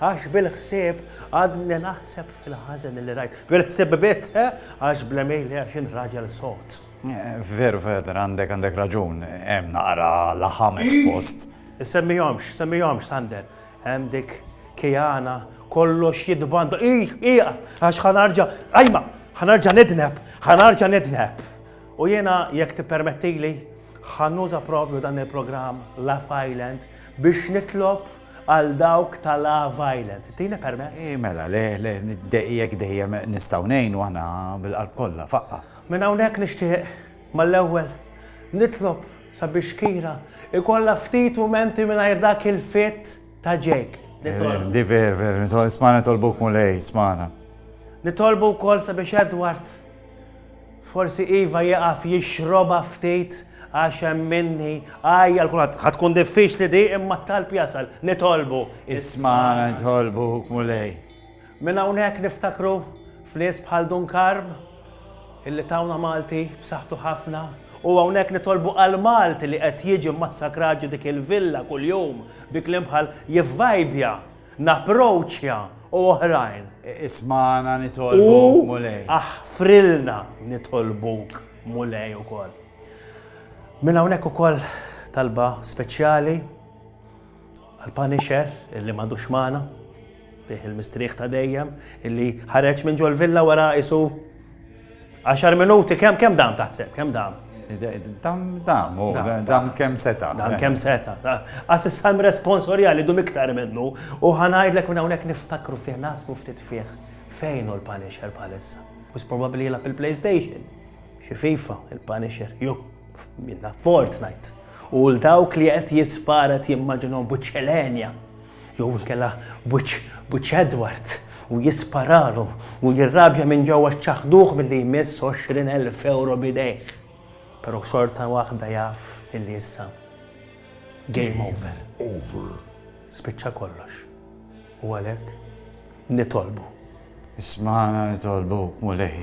Għax bil-ħsieb għadni naħseb fil-ħażen li rajt. Bil-ħsieb biss, għax bla mejli għax int raġel sod. Veru, Feder, għandek għandek raġun, hemm naqra laħames post. Semmihomx, semmihomx, Sander. Hemm dik Kijana kollox jidbanda. Ih, ih, għax ħanarġa, ajma, ħanarġa nidneb, ħanarġa nidneb. U jena jekk tippermettili ħannuża propju dan il-programm La Island biex nitlob Għal dawk ta' La Violent, tini permess? Ih mela, le, le, jekk dejjem nistgħu ngħinu aħna bil-qalb kollha, faqqa'. Minn hawnhekk nixtieq, mal-ewwel, nitlob sabiex Kira jkollha ftit mumenti mingħajr dak il-fit ta' Jake. Nitolbu. Di ver, ver, isma' nitolbuk Mulej, ismana. Nitolbu wkoll sabiex Edward Forsi iva jieqaf jixrobha ftit għax hemm minni għajja l kulħadd. Ħa tkun diffiċli di imma t-talb jasal. Nitolbu. Ismagħna nitolbuk, Mulej. Minn hawnhekk niftakru f'nies bħal Dun Karm illi tawna Malti b'saħħtu ħafna u hawnhekk nitolbu għal Malti li qed jiġi mmassakrat ġo dik il-villa kuljum bi kliem bħal jivvajbja napproċċja u oħrajn. Ismagħna nitolbuk, Mulej. U aħfrilna nitolbuk, Mulej ukoll. Minn hawnhekk ukoll talba speċjali għal-Punisher illi m'għadux magħna, bih il-mistrieħ ta' dejjem, illi ħareġ minn ġol villa wara isu Għaxar minuti, kemm kemm dam taħseb, kemm dam? Dam, dam, u dam kemm seta. Dam kemm seta. Għas s-salm responsoriali li dum iktar minnu, u ħanajdlek minn hawnhekk niftakru fih, nasbu ftit fih, fejn u l-Punisher palissa. Bus probabli jilab il-PlayStation, xi FIFA, il-Punisher, ju, minna Fortnite. U l-dawk li qed jisparet jimmaġinhom buċċelenja. Jew inkella b'wiċċ b'wiċċ Edward u jisparalu u jirrabja minn ġewwa x'ċaħħduh milli jmiss għoxrin elf ewro b'idejh. Però xorta waħda jaf illi issa game over. Spiċċa kollox. U għalhekk nitolbu. Ismagħna nitolbuk, Mulej.